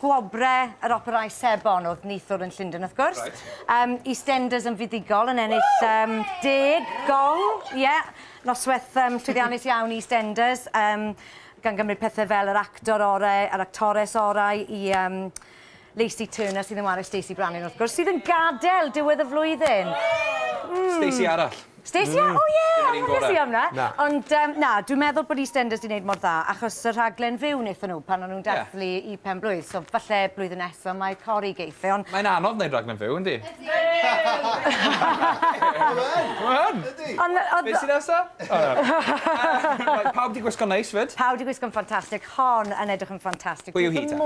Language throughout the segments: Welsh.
Gwobre yr Operâu Sebon o'dd neithwr yn Llundain wrth gwrs. Reit. Yym Eastenders yn fuddugol yn ennill yym deg gong, ie, nosweth yym llwyddiannus iawn i Eastenders yym gan gymryd pethe fel yr actor ore' a'r actores orau i yym Lacey Turner sydd yn ware Stacey Brannan wrth gwrs sydd yn gadel diwedd y flwyddyn. Mm. Stacey arall. Stacey? O ie! Dim yr un gore. Anghofes i am 'na. Na. Ond yym na, dwi'n meddwl bod EastEnders 'di neud mor dda achos y rhaglen fyw nethon nhw pan o'n nhw'n dathlu... Ie. ...'u pen-blwydd, so falle blwyddyn nesa mae Corrie geith e, ond... Mae'n anodd neud rhaglen fyw, yndi? Ydi! Wel mae yn! Mae yn! Ydi! Ond yy o'dd... Be' sy nesa? O na. Mae pawb 'di gwisgo'n neis 'fyd. Pawb 'di gwisgo'n ffantastic, hon yn edrych yn ffantastic. Pwy yw hi te?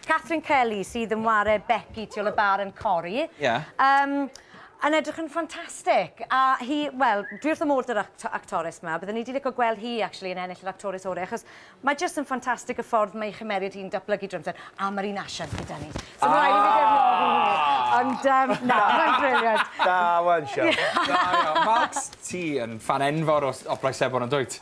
Catherine Kelly sydd yn ware Becky tu ol y bar yn Corrie. Ie. Yym Yn edrych yn ffantastic! A hi, wel, dwi wrth fy modd 'da'r actores 'ma. Bydden i 'di licio gweld hi, actually, yn ennill yr actores ore', achos mae jyst yn ffantastic y ffordd mae ei chymeriad hi'n datblygu drwy'r amser. A mae'r un asiant gyda ni. So ma' raid i fi dweud helo i hi. Ond, yym, na, mae'n brilliant. Da 'wan, Sian. Da iawn. Max, ti yn ffan enfawr o Opera Eisteddfod, yn dwyt?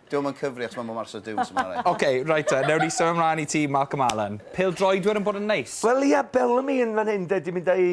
Dio'm yn cyfri achos ma' ma' Marcelo Duw so ma'n alright. Ok, reit te, newn ni symud mlan i ti Malcolm Allen. Pêl-droedwyr yn bod yn neis? Wel ia, Bellamy yn fan hyn 'de, 'di mynd a'i,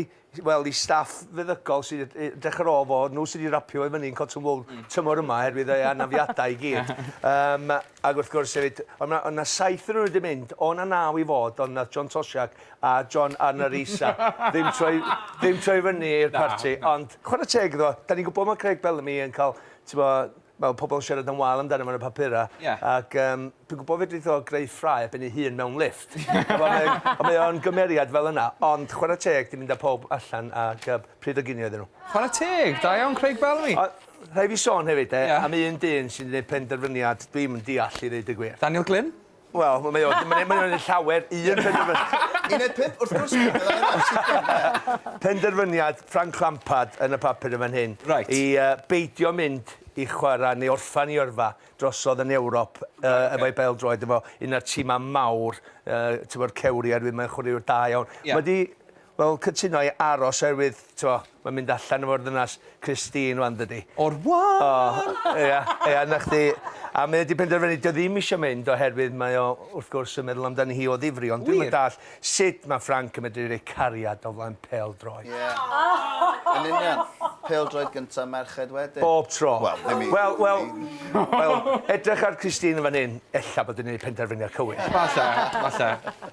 wel, 'i staff feddygol sy ed- e- edrych ar ôl fo, nhw sy 'di rapio fo i fyny yn Cotton Wool tymor yma oherwydd ei anafiadau i gyd. Yym ac wrth gwrs hefyd, ond ma' o' 'na saith ohonyn nhw 'di mynd, o' 'na naw i fod ond nath John Toshack a John Arnorisa ddim troi ddim troi fyny i'r parti. Ond chware teg iddo fo, 'dan ni'n gwbod ma' Craig Bellamy yn ca'l t'bo' Mae pobl yn siarad yn wael amdano fo yn y papurau. Ie. Ac yym dwi'n gwybod fedrith o greu ffrae ar ben ei hun mewn lifft. Ond mae o'n gymeriad fel yna. Ond chwarae teg, ti'n mynd â pawb allan ac yy pryd o ginio iddyn nhw. Chwarae teg! Da iawn Craig Bellamy! A rhaid fi sôn hefyd 'de... Ie. ...am un dyn sy'n gwneud penderfyniad dwi'm yn deall i ddeud y gwir. Daniel Glyn? Wel wel mae o mae mae o'n un llawer un penderfyn- Uned pump wrth gwrs Penderfyniad Frank Lampard yn y papur yn fan hyn. Reit. I yy beidio mynd i chwara' neu orffen 'i yrfa drosodd yn Ewrop yy efo'i bêl-droed efo un o'r tima mawr yy t'mod cewri oerwydd mae'n chwaraewr da iawn. Ie. Ma' 'di Wel, cytuno i aros oherwydd, t'mo', mae'n mynd allan efo'r ddynas Christine 'wan dydi? O'r wan! O, ia, ia, 'na chdi. A mae o 'di penderfynu 'di o ddim isio mynd oherwydd mae o, wrth gwrs, yn meddwl amdani hi o ddifri, ond dwi'm yn dallt sut mae Ffranc yn medru rhoi cariad o flaen pêl-droed. Ie. Yn union. Pêl-droed gynta, merched wedyn. Bob tro. Wel, ddim i... Wel, wel, wel, edrych ar Christine yn fan hyn, ella bod 'di neud penderfyniad cywir. Falle, falle.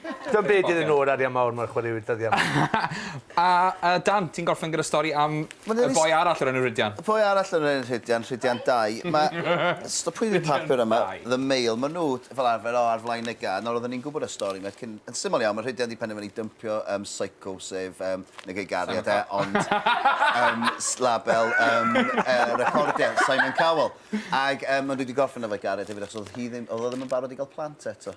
Dim byd iddyn nhw yr arian mawr mae'r chwaraewyr dyddiau yma. A yy Dan, ti'n gorffen gyda stori am y boi arall o'r enw Rhydian. Y boi arall o'r enw Rhydian, Rhydian Dau. Ma' s- pwy oedd y papur yma? The Mail. Ma' nhw fel arfer o ar Flaen Nega. Nawr oedden ni'n gwybod y stori yma cyn... Yn syml iawn, mae Rhydian wedi penderfynu dympio yym Psycho sef yym Neg ei gariad e ond yym s- label yym yy recordiad Simon Cowell. Ac yym ma' nhw wedi gorffen efo'i gariad hefyd achos oedd hi ddim oedd o ddim yn barod i gael plant eto.